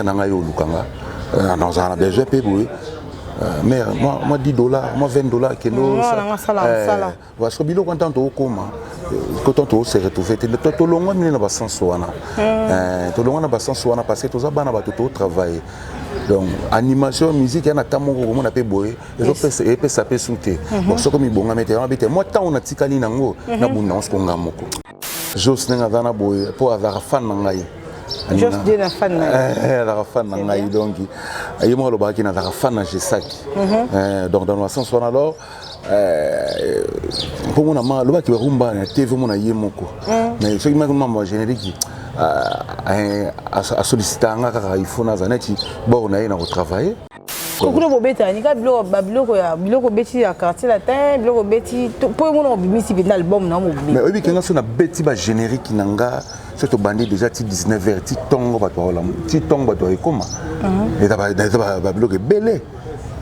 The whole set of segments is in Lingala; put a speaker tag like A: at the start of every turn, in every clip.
A: na ngai yo oluka nga euh, nazala na besoin mpe boye euh, mare mwa 10 dollar mwa 20 dollar kendoparceque biloko ya ntango tookoma kotan toose retrouve te tolongwa mine na basense wana tolongwa na basense wana parce que toza bana bato tootravaille donc animation musique ya na ntango moko komona mpe boye epesa mpe su te soki mibongami te wana bite mwa ntango natikali nango nabunda yango soko nga moko Jos ndenge aza na boye mpo azalaka fan na ngai Jos Dieu na
B: fan na ye. Eh, azalaka fan na
A: ngai donc ye moko alobaki nazalaka fan na Jesaki. Mhm. Eh, donc dans le sens wana alors eh, mpo mona ma alobaki barumba na TV mona ye moko mhm. mais soki maki mama générique asolicita nga kaka ifo naza neti bor na ye na kotravaille kokuna bobetaka
B: nika biloko babiloko ya biloko obeti ya quartier latin biloko obeti mpo yo mona obimisi mpenza album na mobimi mais oyebi kenga so
A: nabeti bagénérique na nga so tobandi déjà ti 19 heures ti ntongo bato baolamu ti ntongo bato baekoma mhm. eza babiloko ebele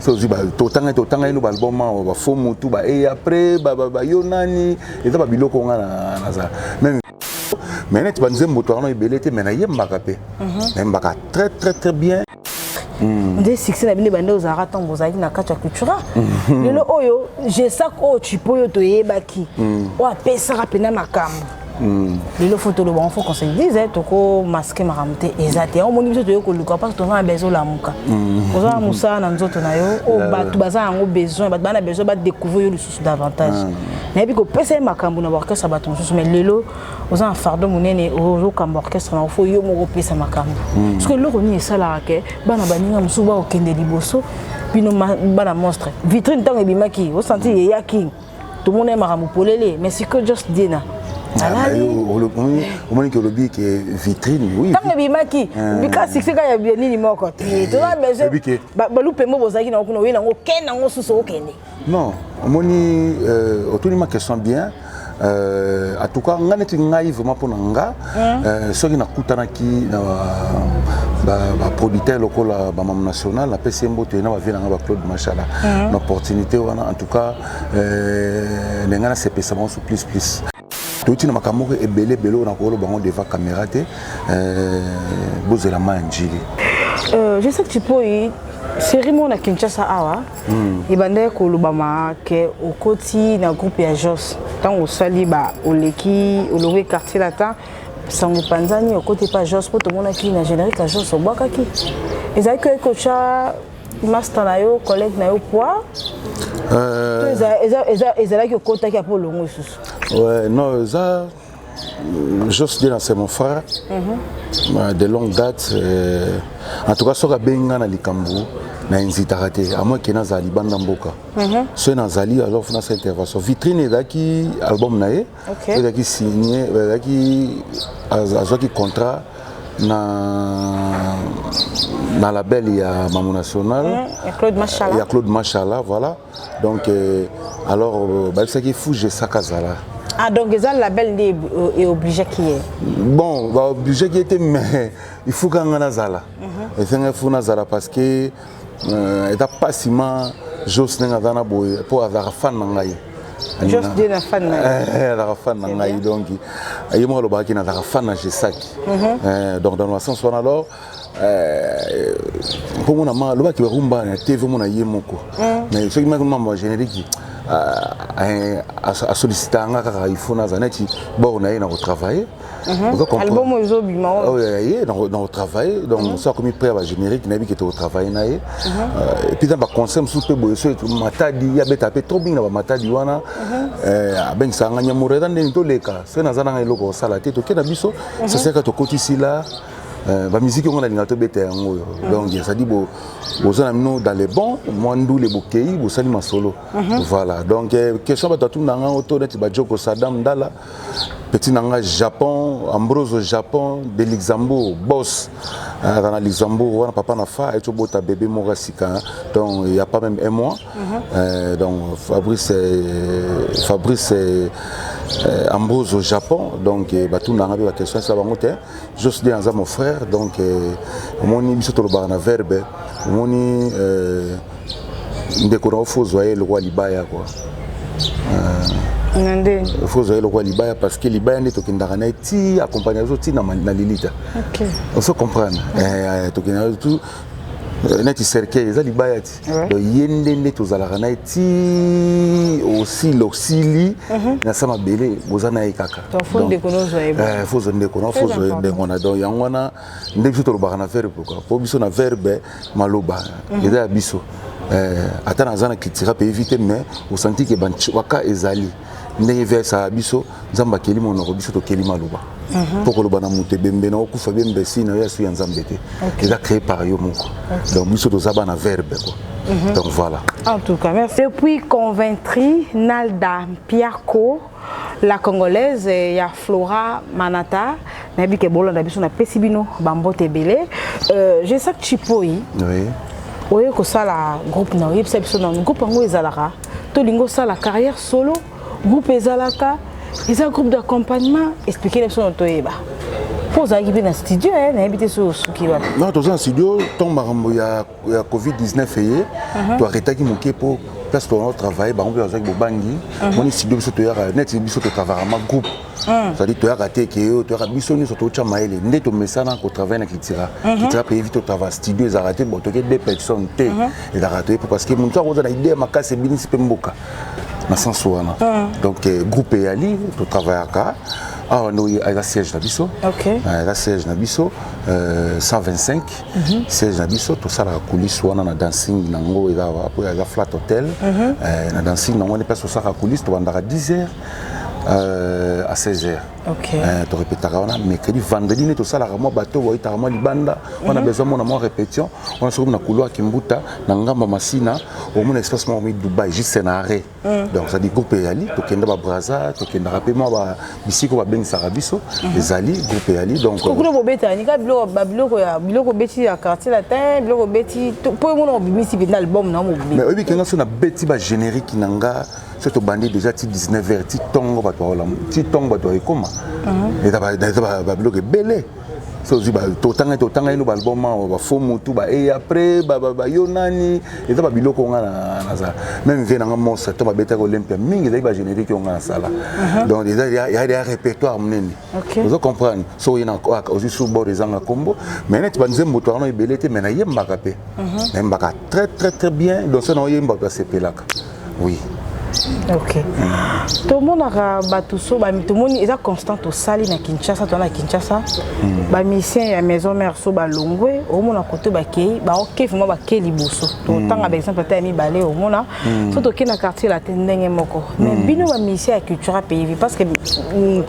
A: so ozwi totanga totanga yino baalbum awa bafo motu baeye après bayo nani eza babiloko nga naza meme mais neti banzembo towana ebele te mais nayembaka mpe mhm. nayembaka très très très bien hmm. nde
B: succès na bino ebande ozalaka ntango bozalaki na kati ya cultura hmm. lelo oyo gesak oyo chipo oyo toyebaki hmm. oyo apesaka mpena makambo lelo fo toloba yango fo conseil dise toko maske makambo te eza te yango omoni biso toye koluka parce toza na besoin olamuka oza na mosala na nzoto na yo oyo bato baza yango besoin bato baa na besoin badécouvrir yo lisusu davantage nayebi kopesa ye makambo na baorchestre ya bato mosusu mais lelo oza na fardo monene oyokamba orchestre na ofo yo moko opesa makambo mm. soki eloko nini esalaka ke bana baninga mosusu bakokende liboso bino bana monstre vitrine ntango ebimaki osanti eyaki tomona ye makambo polele mais sikoyo just dina
A: omoni ke olobi ke vitrine ntango ebimaki
B: bika succès kaka ya nini moko te toza besoin balupe mbo bozalaki nango kuna oye nango okende nango susu okende Non, omoni
A: euh, otuni ma question bien euh, en tout cas nga neti ngai vraiment mpo na nga mm. euh, soki nakutanaki na baproducteur lokola bamam national napesi ye mboto ye na bavie na nga baclaude machala mm. na opportunité wana en tout cas euh, ndenge nasepesa bango so plus plus touti na makambo moko ebele ebele oyo nakoloba yango devant caméra te euh, bozela mai ya njili euh, je
B: sais que tu peux série moko na kinshasa awa hmm. ebandaki kolobama ke okoti na groupe ya jos ntango osali ba oleki olongwe quartier latin sango epanzani okoti epa jos mpo tomonaki na générique ya jos obwakaki ezalaki oyaki kotya master na yo collègue na yo poids euh, ezalaki okotaki apo olongo lisusu ouais non eza
A: euh, jos dina c'est mon frère mhm. euh, de longue date en tout cas soki abengi ngai na likambo na hezitaka te amoi ke nazala libanda mboka mhm. soki nazali alors funa sa intervention vitrine ezalaki album na ye okay. ezalaki signe ezalaki azwaki contrat na na label ya Mamu National mm, ya Claude Mashala
B: ya Claude Mashala
A: voilà donc euh, alors euh, bayebisaki Fuge Sakazala Ah, donc eza
B: label nde e oblige ki ye bon ba
A: oblige ki ye te mais il faut kanga nazala mhm. esengaki fo nazala parce que euh, eza mpasi ma jos ndenge aza na boye mpo azalaka fan na ngai Just Dieu na
B: fan na eh, la fan na ngai
A: donc ye moko alobaki na la fan na Jesaki mhm. eh, donc dans le sens wana alors eh, mpo mona ma alobaki barumba na tv mona ye moko mhm. mais soki maki mama générique asollicita nga kaka ifo naza neti bor na ye na kotravaille Mhm. album
B: oyo ezobima oyo oh, ye
A: nakotravaille donc mhm. so akomi près ya bagénérique nayebi ke tokotravaille na ye epuis na baconcert mosusu mpe boye so matadi abeta mpe trop mingi na bamatadi wana mhm. eh, abengisaka nga nyamureda ndeni toleka soki naza nanga eloko kosala te toke na biso saseka tokotisi la eh, bamiziki yango nalinga tobeta yango oyo donc ezali boza na bino dans le bon mwa ndule bokei bosali masolo voilà donc eh, question bato atuni na ngango to neti bajoko sadam ndala petit na ngai japon ambrose au japon de luxembourg boss azala euh, na luxembourg wana papa na fa ayeti obota bebe moko ya sika donc ya pas même un mois mhm. euh, donc fabrice euh, fabrice euh, ambrose au japon donc euh, batuna ngai mpe baquestion asala bango te jos de aza mon frère donc euh, omoni biso tolobaka na verbe omoni euh, ndeko na yo fo ozwa ye lokola libaya kua na nde fo ozwa ye lokola libaya parce que libaya nde tokendaka na ye ti accompagne biso ti na lilita oso comprendre eh, tokendaka tu eh, neti cercueil eza libaya ti donc ye nde nde tozalaka na ye ti osili osili mhm. na sa mabele boza na ye kaka
B: fo ozwa
A: ndeko na fo ozwa ndeko na donc yango wana nde biso tolobaka na verbe pourquoi mpo biso na verbe maloba mhm. eza ya biso eh, ata naza na cultura mpe evite mais osanti ke baka ezali ndenge versaka biso nzambe akeli monoko biso tokeli maloba mpo mhm. uh -huh. koloba na moto ebembe na okufa bembe si na yo asu ya nzambe te okay. eza créé par yo moko okay. donc biso toza bana verbe quoi mm -hmm. donc voilà en tout cas merci
B: depuis conventri nalda mpiako La Congolaise ya Flora Manata nayebi ke bolanda biso napesi bino bambote ebele euh, je sais chipoi oui.
A: oye kosala
B: groupe na oyebisa biso nano groupe yango ezalaka tolingi osala carrière solo groupe ezalaka eza groupe d'accompagnement explike na biso na toyeba mpo ozalaki mpe na studio eh, nayebi te soki osuki wapi non toza na studio
A: ntango makambo ya ya covid 19 eye mhm. toarretaki moke mpo place tolanda travaille bango mpe bazalaki bobangi mhm. moni studio biso toyaka neti biso totravaka ma groupe mhm. cetadi toyaka te ke oyo toyaka biso nyonso totya mayele nde tomesana kotravaille na kitira kitira mpe evi totrava studio ezalaka te bo toke deux personnes te ezalaka toye mpo parce que moto akoza na idee ya makasi ebinisi mpe mboka na sense wana donc eh, groupe eyali totravaillaka awa nde eza siège na biso eza
B: siège na biso
A: 125 Mhm. siège na biso tosalaka coulisse wana na dancing nango eza awa mpo eza flat hotel mhm. eh, na dancing nango wani place osalaka coulisse tobandaka 10 heures euh, à 16 heures okay. euh,
B: torepetaka wana
A: mercredi vendredi nde tosalaka mwa bato boyitaka mwa libanda wana mhm. besoin mona mwa répétition wana soki na couloir kimbuta na ngamba masina omona espace moko mi dubai juste na arrêt Mm. donc ezali groupe eyali tokenda babraza tokendaka mpe mwa bisika babengisaka biso mm-hmm. ezali groupe eyali donkokuna bobeta nika
B: biloko ya biloko obeti ya quartier latin biloko obeti mpo omona obimisi mpenza album na mobimi mais oyebi kenga so nabeti
A: bagénérique na nga so tobandi déjà ti 19 heures ti ntongo bato baola ti ntongo bato baekoma mm-hmm. eza babiloko ebele so ozwi totanga totanga ino baalbum awa bafo motu ba e après bayo nani eza babiloko nga nazala meme vie nanga monstre to babetaki olympia mingi ezalaki bagénérique oyo nga nasala uh-huh. donc eza ya ya répertoire monene ozo comprendre so oye nakoyaka ozwi sur bord ezanga nkombo mais neti banzembo to wana ebele te mais nayembaka mpe uh-huh. nayembaka très très très bien donc so na oyemba mpe asepelaka oui ok
B: tomonaka bato so tomoni eza constant tosali na kinshasa toa na kinshasa hmm. bamisien ya maison mare so balongwe omona kote bakei baoke vraimen bakei liboso totanga hmm. baexemple ata ya mibale omona hmm. so tokei na quartier latin ndenge moko mais bino bamisien ya cultura pays parce que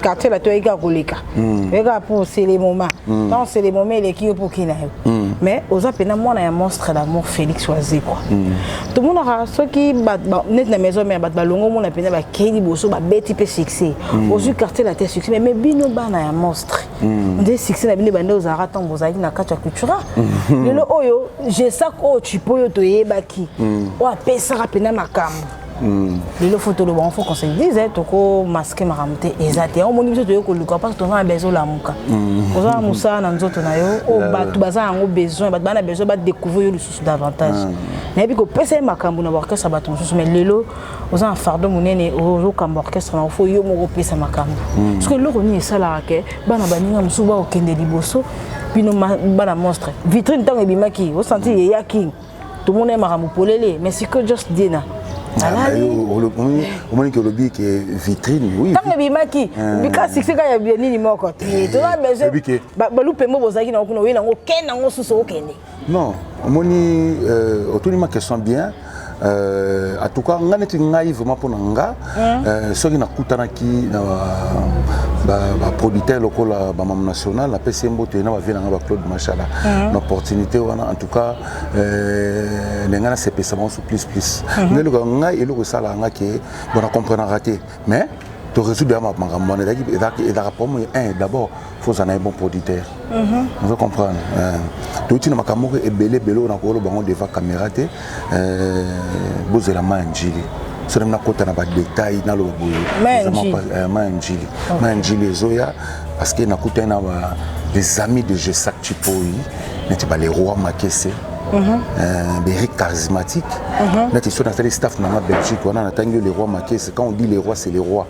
B: quartier latin oyeki akoleka Mm. Ega pour c'est les moments. Mm. Tant c'est les moments les qui pour qui là. Mm. Mais aux appena moi na monstre d'amour Félix Oazé quoi. Mm. Tout le monde aura ceux qui bat net na maison mais bat balongo mon appena ba Kelly Bosso ba Betty pe succès. Mm. Aux quartier la tête succès mais mais bino bana ya monstre. Mm. Des succès na bino bande aux ara tant vous na kacha cultura. Mm. Lelo oyo je sais ko tu peux yo to yebaki. Mm. Wa pesa rapena makambo. Mm. lelo fo toloba yango fo qu'on se dise eh, toko maske makambo te eza te yango omoni biso toye koluka parce toza na besoin olamuka mm. oza na mosala na nzoto na yo oyo oh, bato baza yango besoin bato baa na besoin badécouvrir yo lisusu davantage mm. nayebi kopesa ye makambo na baorchestre bato mosusu mais lelo oza na fardo monene ozokamba orchestre na ofo yo moko opesa makambo parceke eloko nini esalaka ke bana baninga mosusu baokende liboso bino bana monstre vitrine ntango ebimaki osanti eyaki tomonai makambo polele mais sikoyo jos diena
A: omoniki olobi ke vitrine ntango ebimaki
B: bika succès kaka ya nini moko te toza besoin balupembo bozalaki nango kuna oye nango okende nango susu okende non omoni
A: otuni ma question bien en tout cas ngai neti ngai vraiment mpo na nga Hein? Euh, soki nakutanaki na baproducteur lokola bamam national napesi ye mboto ye na bavie na ngai baclaude machala hein? na opportunité wana en tout cas euh, ndenge nasepesa bango so plus plus hein? ngai eloko ngai eloko esalaka ngai ke bona comprenaka te mais toresoudre ya makambo wana ezalaka problème un d'abord faut ozala na ye bon producteur mhm. ozo comprendre euh, touti na makambo moko ebele ebele oyo nakoloba yango devant caméra te euh, bozela ma ya njili soki nakota na badetail naloba boye euh, ma ya njili ma ya njili ezoya parce que nakutani na les amis de jesac chipoi neti ba leroy makese beri mhm. charismatique neti soki nasali staff na nga belgique wana natangi yo leroy makese quand on dit leroy c'est leroy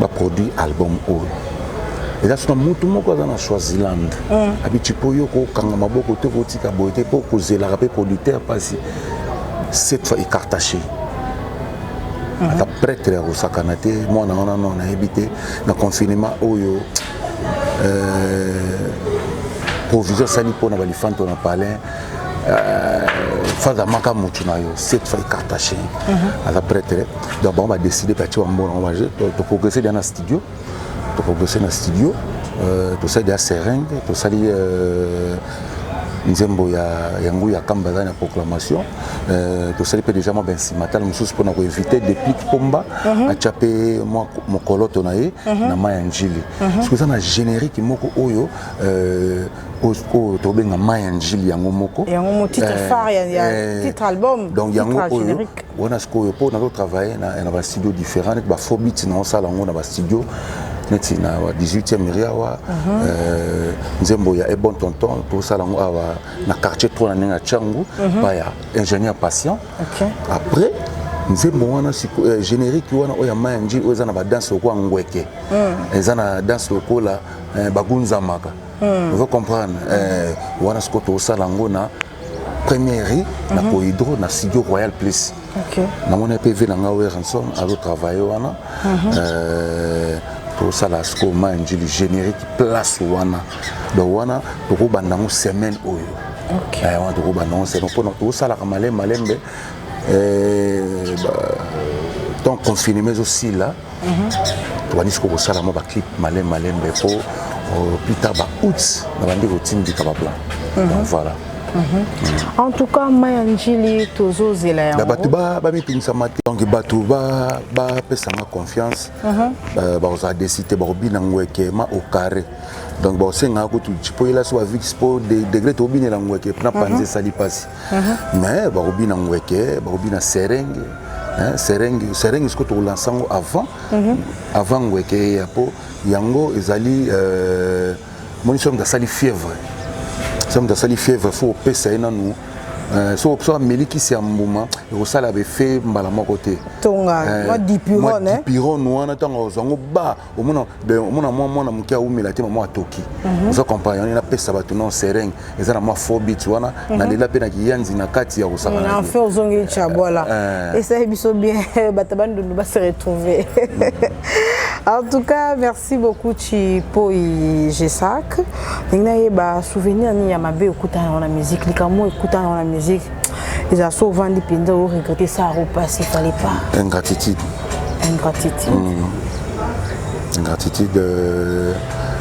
A: ba produit album oyo eza sona mutu moko aza na swaziland mm. abiti mpo yo kokanga maboko te kotika boye te mpo kozelaka mpe producteur mpasi cette fois ecartache mm-hmm. ata prêtre ya kosakana te mwana wana no nayebi te na confinement oyo euh, provision asali mpo na balifanto na palin euh, faza maka mutu na yo cette fois ecartache mm-hmm. aza prêtre donc bango badeside batie bambona yango baje toprogrese deya na studio toprogrese na studio euh, tosali deya seringue tosali euh, nzembo ya, ya ngui ya kamba ezali na proclamation euh, tosali mpe deja mwa bensimatale mosusu mpona koevite deplic pomba uh mhm. -huh. atya mpe mwa mokoloto na ye uh mhm. -huh. na mai ya njili uh mhm. -huh. soki eza na générique moko oyo euh, oyo tobenga mai ya njili yango moko yango mo titre eh, phare ya,
B: ya eh, titre album donc yango oyo
A: wana sikoyo mpo nazo travaille na, na bastudio différent neti bafaux bit na osala yango na bastudio neti na 18e eri awa mhm. eh, nzembo ya ebon tonton tosala yango awa na quartier tro na ndenge ya tiangu mhm. pa ya ingénieur patient après nzembo wana eh, générique wana oyo ya maya njili oyo eza na badanse lokola ngweke mm. eza na danse lokola eh, bagunzamaka hmm. vous comprendre euh, wana sikoyo tokosala yango na première rue na mhm. cohydro na studio royal place namoni mpe vi na ngai werenson azotravaille wana mhm. euh, tosala sikoyo ma njili générique place wana donc wana tokobanda yango semaine oyo eh, wana tokobanda yango semaine mpona tosalaka malembe malembe eh, temps confinement ezosila Mhm. tobandi siko kosala mwa baclip malembe malembe mpo euh, plus tard ba août nabandi kotindika baplan mhm. donc voilà mhm. en
B: tout cas maya njili tozozela yango bato bamitungisama
A: te donc bato bapesanga confiance euh, bakozala desi te bakobina ngweke ma au carré donc bakosengaka kutu mpo yela so bavix mpo degré tobinela ngweke mpona panzi esali mpasi Mhm. mais bakobina ngweke bakobina serenge eh, serenge serenge sikoyo tokolansa yango avant mhm. avant ngweke eya mpo yango ezali euh, moni soki moto asali fièvre soki moto asali fièvre fo opesa ye nanu euh, so so ameli kisi ya mbuma ekosala befe mbala moko te tonga eh, mwa
B: dipirone
A: wana ntango azwa yango ba omona ben, omona mwa mwana moke awumela te mama atoki mhm. oza comprendre yango napesa bato non sereng eza na mwa faux bit wana mhm. nalela mpe na kiyanzi na kati ya kosangana enfe ozongeli
B: chabwala eh, eh. esali biso bien bato bandundu base retrouve mhm. en tout cas merci beaucoup chipoi gesac ndenge nayeba souvenir nini ya mabe okutana yango na musique likambo ekutana yango na musique eza so ovandi mpenza o regrete sa repasse il fallait pas ingratitude
A: ingratitude mm. ingratitude euh,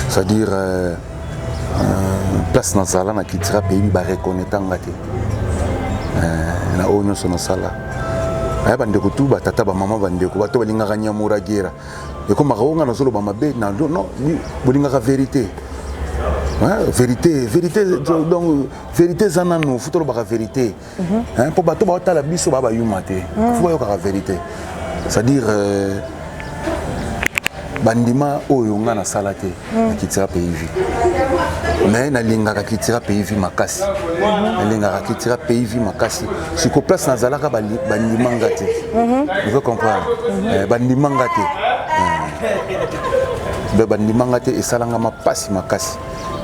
A: c'est à dire euh, euh, place nazala na kitira pays bareconnaitre nga te euh, na oyo nyonso nasala aya bandeko tu batata bamama bandeko bato balingaka nyamuragera ekomaka o nga nazoloba mabe na no bolingaka verité vérité vérité donc verité eza nano fo tolobaka verité mhm. mpo bato baotala biso baa bayuma te mhm. fo bayokaka verité c'est-à-dire euh, bandima oyo ngai nasala te mhm. na kitira pays vie mais nalingaka kitira pays vie makasi nalingaka kitira pays vie makasi siko place nazalaka bandima nga te ozo comprendre eh, bandima nga te eh. bandima nga te esalanga mapasi makasi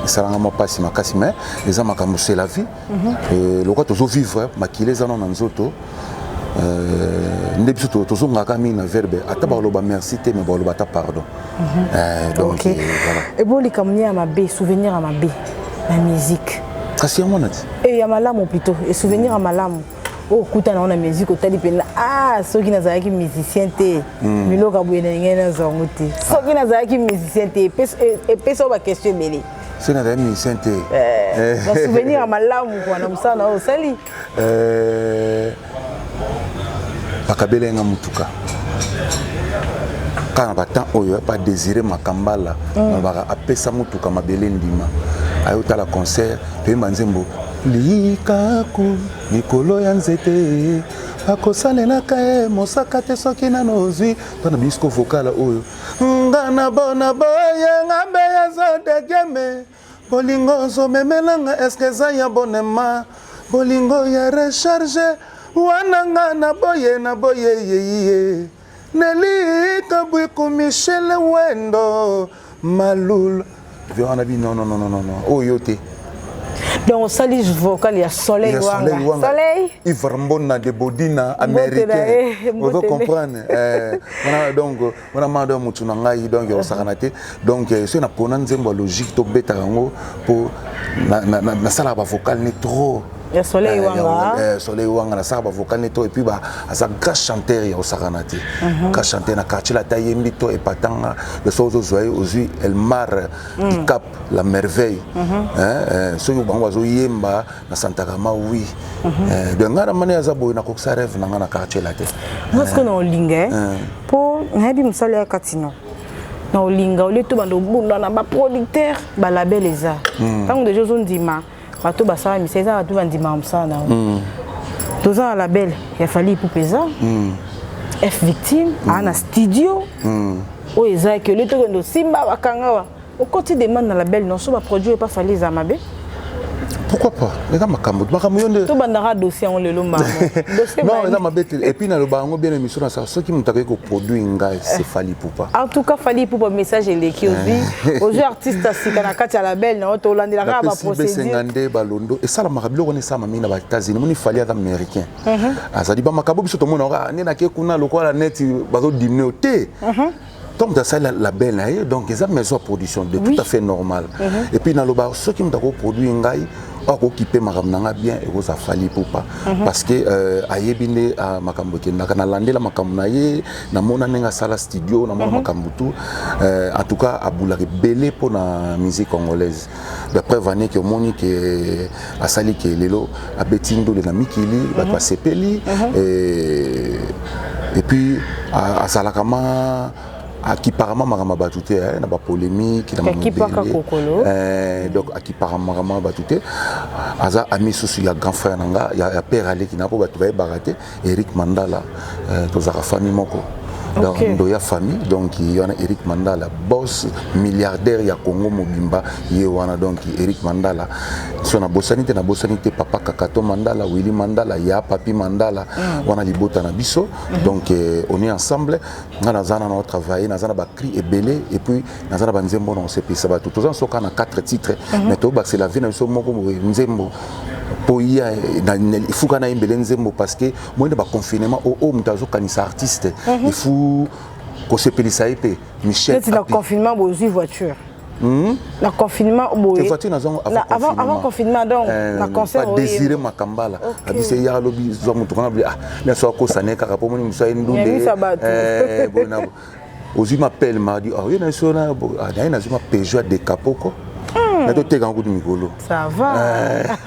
A: esalanga mwa mpasi makasi mais eza makambo c'est la vie mhm. lokola tozo vivre makila eza nano na nzoto euh, nde biso tozongaka mingi na verbe ata mhm. baloba merci te mais baloba ata pardon mhm. eh, donc euh, voilà ebo likambo nini ya
B: mabe souvenir ya mabe na musique kasi yango wana ti
A: eh, ya malamu plutôt
B: esouvenir ya malamu okutana oh, ngo na musique otali mpenza a ah, soki nazalaki musicien te hmm. biloko ya boye nalingai nazwa yango te soki ah. nazalaki musicien te epesa yo baquestion ebele soki nazalaki musicien
A: te eh, eh. souvenir
B: ya malamu kua na mosala na oyo osali eh,
A: bakabela yanga motuka kaka na batemp oyo pa désiré makambala hmm. nalobaka apesa motuka mabele ndima ayotala concert toyemba nzembo Likaku likolo ya nzete bakosalelaka ye mosaka te soki nano ozwi to na bisko vokala oyo nga na bona boye nga mbe yaza degeme bolingo ozomemelanga eske eza ya bonema bolingo ya recharge wana nga na boye na boye yeye Nelly Kabuiku Michel Wendo Malul Viora na bi non non non non non oyo oh, yo te donc
B: osali vocal ya soleil wanga soleil ivarmbona
A: de bodina américain ozo comprendre eh, wana donc wana mado ya motu na ngai donc osakana te donc euh, soki napona nzembo ya logique tobetaka yango mpo nasalaka bavocal ne trop ya soleil eh,
B: wanga eh, soleil wanga nasaka
A: bavocal ne to epuis aza grand chanteur ya osakana te mhm. grand chanteur na quartier lata yembi to epatanga leso ozozwa ye ozwi elmar mm. dicap la merveille mhm. eh, soki bango bazoyemba na santakama wi mhm. donc ngai na mani aza boye nakokisa rêve na ngai na quartier late nga sikoyo na olinga
B: mpo nayebi mosala ya katino na olinga olie to banda obunda na baproducteur balabel eza hmm. ntango deja ozondima bato basala misa eza bato bandimaka mosala na yo hmm. toza na label ya fali ipupe eza hmm. f victime aa na studio oyo eza ke olie tokende osimba bakangawa Okoti demande na label non so ba produit epa fali eza mabe. Pourquoi
A: pas Eza makambo makambo yonde. To bandaka
B: dossier yango lelo mama. Dossier Non, eza
A: mabe te. Et puis na loba yango bien émission na sa soki mutu akoki ko produire ngai eh. c'est Fally Poupa. En tout cas Fally Poupa
B: message eleki ozi. Eh. Ozo artiste asika na kati ya label na oto olandela kaka ba procédure. Na pesi ngande balondo et sala
A: makabilo kone sama mingi na ba États-Unis moni Fally ata américain. Mhm. Azali ba makabo biso to mona ka ah, ne na ke kuna lokola net bazo dimne te. Mhm. ntango moto asali label na ye donc eza maison ya production de tout à fait normal mhm. et puis naloba soki moto akoproduire ngai oyo akokipe makambo na ngai bien ekozala fali pupa mhm. parce que euh, ayebi nde ah, makambo ekendaka nalandela makambo na ye namona ndenge asala studio namona mhm. makambo tout euh, en tout cas abulaka ebele mpo na musique congolaise la preuve en est que omoni ke asali ke lelo abeti ndole na mikili mhm. bato basepeli mhm. et puis azalaka ma akiparama makambo ya bato te eh, na bapolémike na mamobeledonc eh, akiparama makambo ya bato te aza ami susu ya grand frère na nga ya père aleki na mpo bato bayebaka te Eric Mandala euh, tozalaka famille moko donc okay. ndoya famille donc ye wana eric mandala boss milliardaire ya congo mobimba ye wana donc eric mandala so nabosani te nabosani te papa kakato mandala willi mandala ya papi mandala mm. wana libota na biso mm -hmm. donc eh, on est ensemble nga naza na nao travaille naza na bacri ebele et puis naza na banzembo na kosepelisa bato toza na soka na 4 titre mhm. mais tobakisa la vie na biso moko boye nzembo mpo ya efuka na ye mbele nzembo parce que moyende oh, oh, baconfinement oyo moto azokanisa artiste mhm. efu kosepelisa ye mpe michel na confinement bozwi
B: voiture Hmm? na confinement boye voiture nazango avant, avant confinement donc euh, na concert désiré makambala
A: okay. abise ya lobi zwa mutu kana bi ah na so ko sané kaka po moni musa ndunde eh boy na ozwi mapele mardi ah, oye na biso na ah, ye nazwi mapejo ya dekapoko hmm. na toteka yango kutu mikolo
B: eh.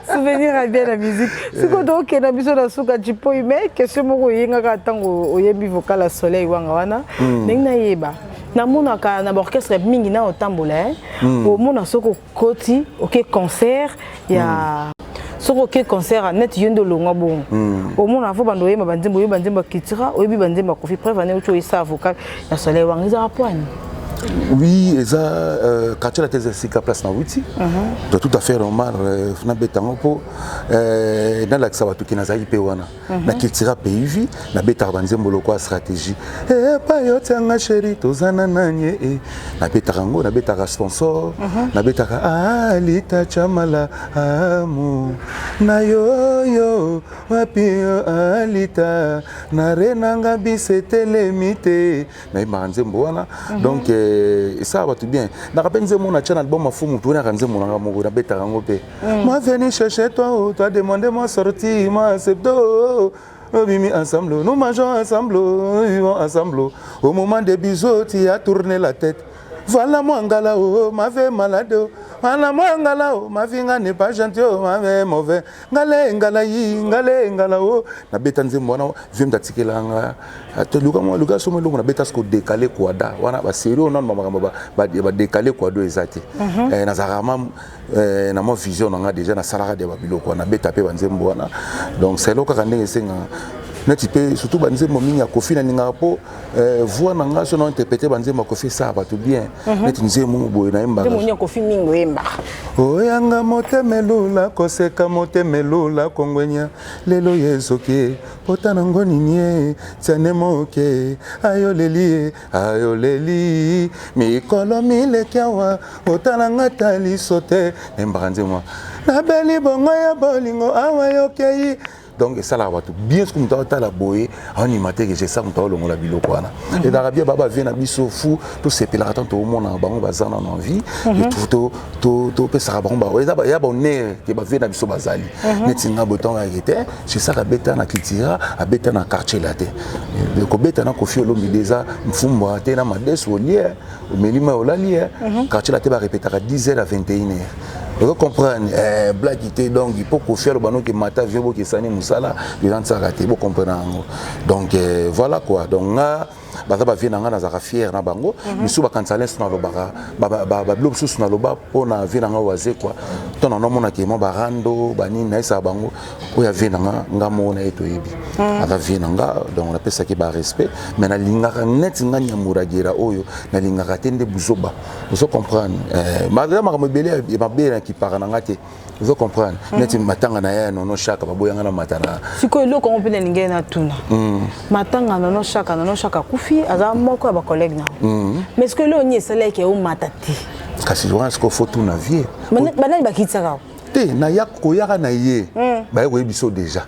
B: souvenir ya bien na musique eh. sikoyo tokokenda biso na suka cipoi mais question moko oyengaka ntango oyembi vocal ya soleil wanga wana hmm. ndenge nayeba namonaka na baorchestre mingi na otambola eh. hmm. omona soko koti oke okay, concert ya mm. soki oke concert neti yo nde olongwa bongo hmm. omona fo bando oyemba banzembo oyebi banzembo ya kitira oyebi banzembo ya kofi preve ane oki oyesa avocal ya soleil wanga ezaka poani oui
A: eza euh, quartier latin eza esika place na wuti uh-huh. to tout à fait normal euh, nabeta yango mpo euh, nalakisa bato ke nazalaki mpe wana Mhm. na kiltira pays vie nabetaka banzembo lokola stratégie epa eh, eh, yo tianga sheri tozana nanye e eh. nabetaka yango nabetaka sponsor mhm. nabetaka alita ah, chamala amu na yoyo wapi yo alita na renanga bisetelemi te nayembaka nzembo wana mhm. donc esala bato bien naka mpe nzembo na tya na album afumu mpe naka nzembo nanga moko nabetaka yango mpe Mm. Moi venu chercher toi, oh, toi demander moi sortie, moi accepte, oh, oh, mimi oh, ensemble, nous mangeons ensemble, oh, nous vivons ensemble. Oh. Au moment des bisous, tu as tourné la tête. Voilà moi ngala, oh, ma vie malade, oh. Voilà moi ngala, oh, ma vie n'est pas gentille, oh, ma vie mauvaise. Ngale, ngala, yi, ngale, ngala, oh. Na beta nzembo wana, vieux mtatike la nga. Ah, to luka moi, luka somo longo na beta sko décalé quoi da. Wana ba sérieux on a makambo ba ba décalé quoi do ezati. Mhm. Eh, na zarama Euh, na mwa vision na ngai déjà nasalaka de babiloko wana beta mpe banzembo wana donc selo kaka ndenge esengaka neti mpe surtout banzembo mingi ya kofi nalingaka mpo euh, voi na ngai so na interprete banzembo ya kofi esala bato bien mhm. neti nzembo moko boye nayembaka
B: oyanga
A: motema elula koseka motema elula kongwenya lelo ye ezoki pota nango nini ye tiane moke ayolelie ayoleli mikolo mileki awa otala nga ta liso te nembaka nzembo mwa nabeli bongo ya bolingo awa yokei donc esalaka bato bien soki moto atala boye anima te ke jesa moto aolongola biloko wana mhm. ezalaka bien baba vie na biso fu tosepelaka ntango toomonaka bango baza na na vie topesaka bango ya baonere ke bavie na biso bazali mhm. neti nga botango yake te c'est ça kabeta na kitira abeta na quartier latin euh, kobeta na kofi olomide eza mfumbo te na mades olie eh. omeli mai olali eh. mhm. quartier latin barepetaka 10 heures à 21 heures ozo comprendre eh, blaki te donc mpo kofi aloba noki mata vio bokesani mosala ezantisaka te bokomprena yango donc eh, voilà quoi donc nga baza bavie na ngai nazalaka fiere na bango mhm. misusu bakanisa leso nalobaka babilo mosusu naloba mpo na vie na ngai oyo azekwa to na namonaki mwa barando banini nayesaka bango oyo avie na nga nga moko na ye toyebi mhm. aza vie na nga donc napesaki barespect mais nalingaka neti nga nyamuragera oyo nalingaka te nde buzoba ozo comprendre eh, maza makambo ebele mabe na kipaka na nga te ozo comprendre mhm. neti matanga na yaya nono shaka baboyanga na mata na sikoyo eloko yango mpe
B: nalingi ye natuna mhm. matanga nono shaka nono shaka akufi aza moko ya bacollègue na mhm. mais sikoyo eloko nini esalaki yango mata te kasi wana sikoyo
A: fo tuna vie banani bakitisaka
B: te naya
A: koyaka na ye baye koyebi biso déjà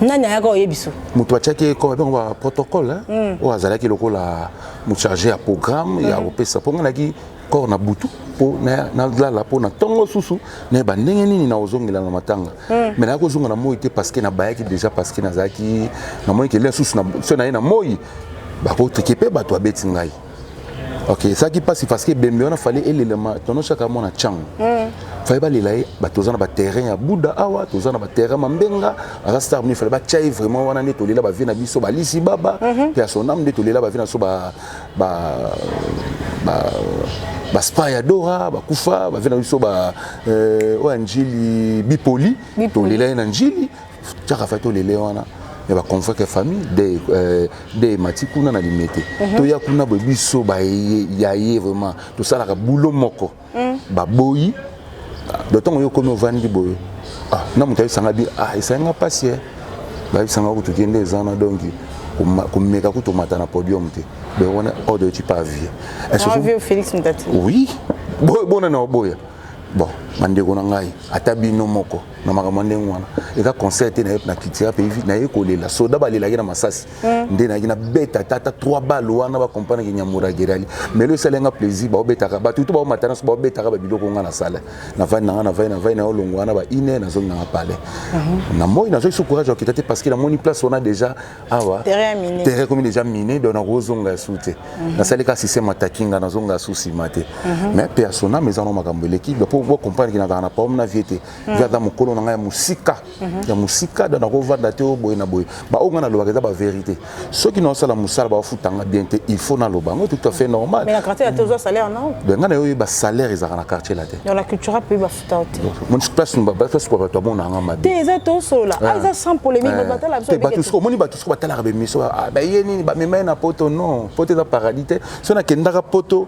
A: nani
B: ayaka oye biso moto atiaki ekomabyango
A: baprotocole oyo azalaki lokola mocharge ya programme ya kopesa mpo ngai naki kor na butu mpo nalala mpo na ntongo susu nayeba ndenge nini nakozongela na matanga hmm. me nayaki kozonga na moi te parceke nabayaki déjà parceke nazalaki namoni kelia susu so naye na moi bakoteke mpe bato abeti ngai ok ezalaki mpasi parceke ebembe wana fale elelema tonoshaka mwana cango hmm. fale balela ye bato oza na baterrain ya buda awa toza na baterrain mambenga aza star mini fale batya ye vraiment wana nde tolela bavie na biso balisi baba mpe mhm. ya sonam nde tolela bavie na biso ba ba ba spa ya dora bakufa bave na biso ba euh, oyo ya njili bipoli tolela ye na njili tiaka fai tolele wana ya baconvoque ya famille de euh, de emati kuna na limete mhm. toya kuna boye biso baye ya ye vraiment tosalaka bulo moko mm. baboyi do ntango yo okomi ovandi boye ah, na moto ayebisanga bi ah, esali nga mpasi e bayebisanga kutu kende eza na donki komeka kutu omata na podium te donc wana ordre oti pas vie oui bona na oboya bon bandeko na ngai ata bino moko na makambo ndenge wana eza concert te naye na culture pays naye kolela soda balelaki na masasi mm. nde nayaki nabeta tata trois balle wana bakompanaki nyamura gerali mais lo esali yanga plaisir baobetaka bato to baomata nyonso baobetaka babiloko nga nasala navandi nanga navai navai na olongo wana ba ine nazongi nanga pale mhm. na moi nazwaki so courage ya kokita te parce que namoni place wana déjà awa terrain komi déjà mine donc nakozonga ya su te mhm. nasali ka système ataki nga nazonga ya su nsima te mhm. mais mpe ya sona mezano makambo eleki po bakompanaki nazalaka na paome na vie te mm. eza mokolo na ngai ya mosika mhm. ya mosika donc nakovanda te oyo boye na boye baoyo ngai nalobaka eza baverité soki naosala mosala bafutanga bien te il faut naloba yango tout à fait normal
B: ngai na yo oyeba salaire
A: ezalaka na quartier la te
B: place bato
A: bato amona yanga
B: mabe omoni bato
A: soko batalaka bemiso baye nini bamema ye na poto non poto eza paradis te so nakendaka poto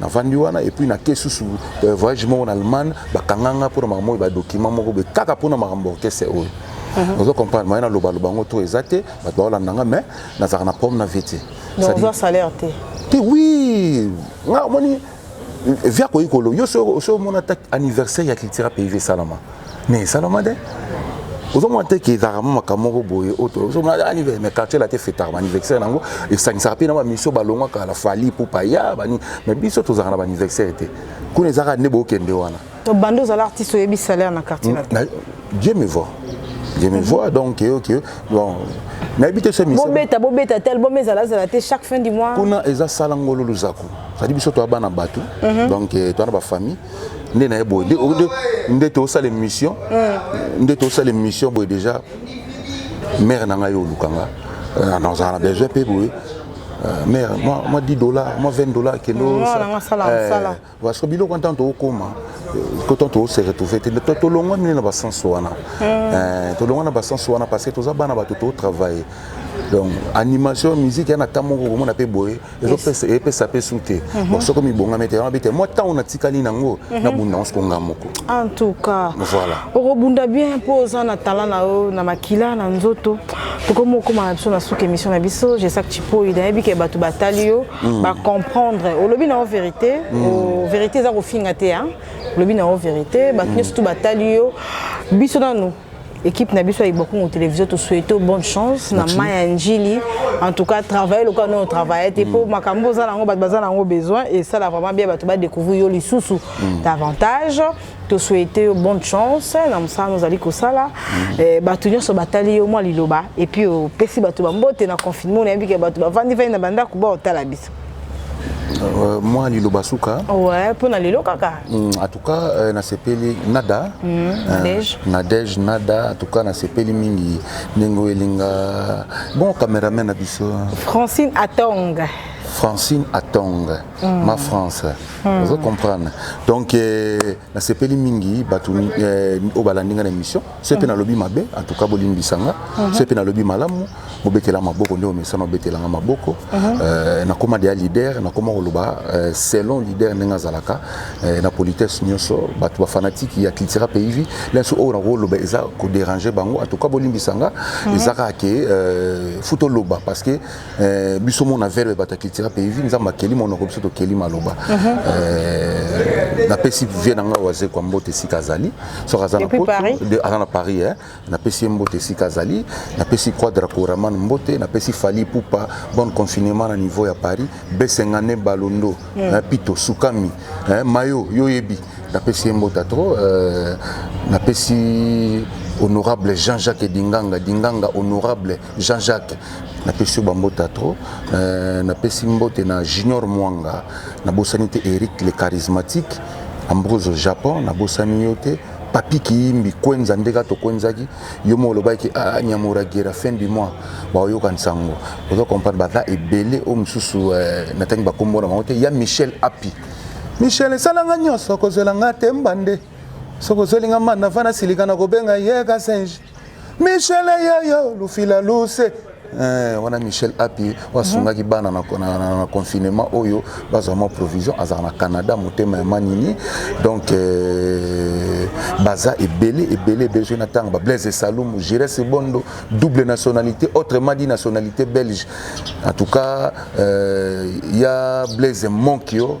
A: navandi wana et puis na ke susu euh, voyage moko na allemagne bakanga nga mpona makambo oyo badocument moko boye kaka mpona makambo orchestre oyo mhm. ozo comprendre maye nalobaloba yango to eza te bato baolanda nga mais nazalaka na problème na vie te salaire
B: te te oui
A: nga omoni via koyikolo yo so omona ata anniversaire ya cultura pays esalama mais esalama te ozomona te ke ezalaka mwa makambo moko boye oyo ozomona anivers mais quartier la te fetaka baaniversaire na yango esangisaka mpe na bamisio balongwaka la fali pupa ya bani mais biso tozalaka na baaniversaire te kuna ezalaka nde bokende wana bande ozala artiste
B: oyebi salaire na quartier la te dieu me
A: voir je me vois donc que que bon nayebi te so misa bobeta bobeta tel bom
B: ezala zala te chaque fin du mois kuna eza sala ngolo
A: luzaku sadi biso toya bana bato mhm. donc eh, toya na bafamille nde naye boye nde tosala émission hmm. nde tosala émission boye déjà mère na ngai oluka nga euh, nazala na besoin mpe boye euh, mère mwa 10 dollars mwa 20 dollars kendo parce biloko ntango tokokoma kotan tose retrouve te tolongwa nini na basense wana hmm. tolongwa na basense wana parce que toza bana bato totravaille donc animation musique yana ata moko komona mpe boye ezopesa epesa pe su te mhm. bon soko mibongami te yango te mwa ntango natikali nango mhm. nabunda yango soko nga moko en tout cas
B: voilà okobunda
A: bien mpo
B: oza na talent na yo na makila na nzoto tokomi okoma na biso na suka émission na biso jesak chipoi nayebi ke bato batali yo mhm. bacomprendre olobi na yo vérité vérité eza kofinga te olobi na yo vérité bato nyonso tu batali yo biso nanu Equipe na biso ya Ibokungu Television to souhaito bonne chance na Maya Njili. En tout cas, travailler lokola no travailler te po mm. makambo za nango bato baza nango besoin et ça la vraiment bien bato ba découvrir yo lisusu mm. davantage. To souhaiter bonne chance na mosala nous ali kosala. Mm. Eh, bato nyonso batali yo mwa liloba et puis opesi bato ba mbote na confinement na yebi ke bato bavandi vandi na bandako baotala biso. Euh,
A: mwa liloba suka ouais, mpo na lelo
B: kaka mm, en tout cas
A: euh, nasepeli nada mm, euh, nadege nada en tout cas nasepeli mingi ndenge oyo elinga bon cameraman na biso francine
B: atong francine
A: atong mm. ma france mm. ozo comprendre donc euh, nasepeli mingi bato euh, oyo balandi nga na émission se mpe nalobi mabe antuka bolimbisa nga mhm. se mpe nalobi malamu bobetela maboko nde omesana obetela nga maboko mhm. euh, nakoma deya leader nakoma koloba euh, selon leader ndenge azalaka euh, na politesse nyonso bato bafanatike ya cultura pays vie lenso oyo nakoloba eza koderange bango antuka bolimbisa nga mhm. eza kaka ke futa oloba parce que Eh, biso mona verbe bata culture mpe vi nzambe akeli monoko biso tokeli maloba mhm. eh, napesi vie na ngai wazekwa mbote esika azali soki aza na poto aza na paris eh. napesi ye mbote esika azali napesi quadra coraman mbote napesi fali pupa bonne confinement na niveau ya paris besengane balondo mm. pito sukami mayo yo oyebi napesi ye mbote atro napesi honorable jean-jacques dinganga dinganga honorable Jean-Jacques napesi yo bambota trop euh, napesi mbote na junior mwanga nabosani te eric le charismatique ambrose japon nabosani yo te papi kiyimbi kwenza nde kaka tokwenzaki yo moko olobaki ah, nyamuragera fin du mois baoyoka nsango ozo comprendre baza ebele oyo mosusu euh, natangi bakombo na bango te ya michel api michel esalanga nyonso kozwela nga te mbande soki ozwelinga manda fana silika na kobenga ye kasenje Michel yaya lufila luse Eh, wana michel api asungaki mhm. bana na confinement oyo bazwa mwa provision azala na canada motema ya manini donc eh, baza ebele ebele ebele soki na ntango bablaise salumu gires bondo double nationalité autrement dit nationalité belge en tout cas eh, ya blaise monkio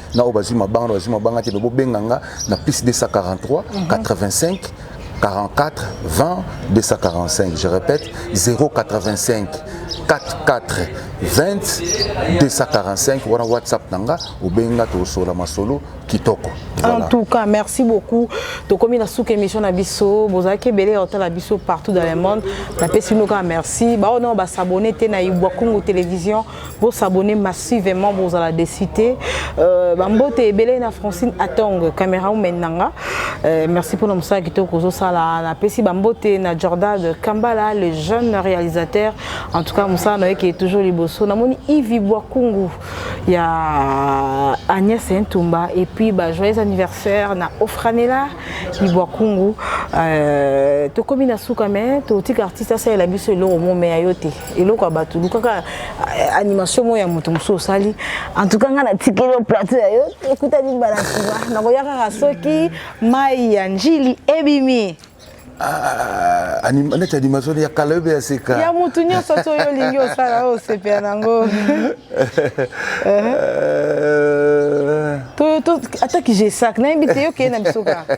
A: na oyo bazwi mabanga na bazwi mabanga te me bobenga nga na plus 243 85 44 20 245 je répète 085 44 20 245 wana whatsapp na nga obenga tosola masolo kitoko voilà. en tout cas
B: merci beaucoup tokomi na suka émission na biso bozalaki ebele ya otala biso partout dans le monde napesi bino kaka merci baoyo nao basabone te na ibwakungu télévision Vous s'abonnez massivement, vous allez décider. Euh, Bambote et Belé na Francine Atong, caméra ou Menanga. Euh, merci pour l'homme qui t'a causé ça là. La Pessi Bambote na Jordan de Kambala, le jeune réalisateur. En tout cas, Moussa Noé qui est toujours libosso. Na moni Yves Boakungu, il y a Agnès Ntumba et puis bah, joyeux anniversaire na Ofranela Yves Boakungu. Euh, tokomi na suka mais totika artiste asala biso eloko mo mais ayote. eloko ya bato lukaka eh, animation moko ya moto mosusu osali en tout cas ngai natikeli yo plateau ya yo ekutani mbala nsima nakoya kaka soki mai ya njili ebimi Ah, anim,
A: neti animation ya kala oyo ya seka ya motu nyonso ti oyo
B: olingi osala oyo osepela nango ata kijesak nayebi te yokeye na biso kaka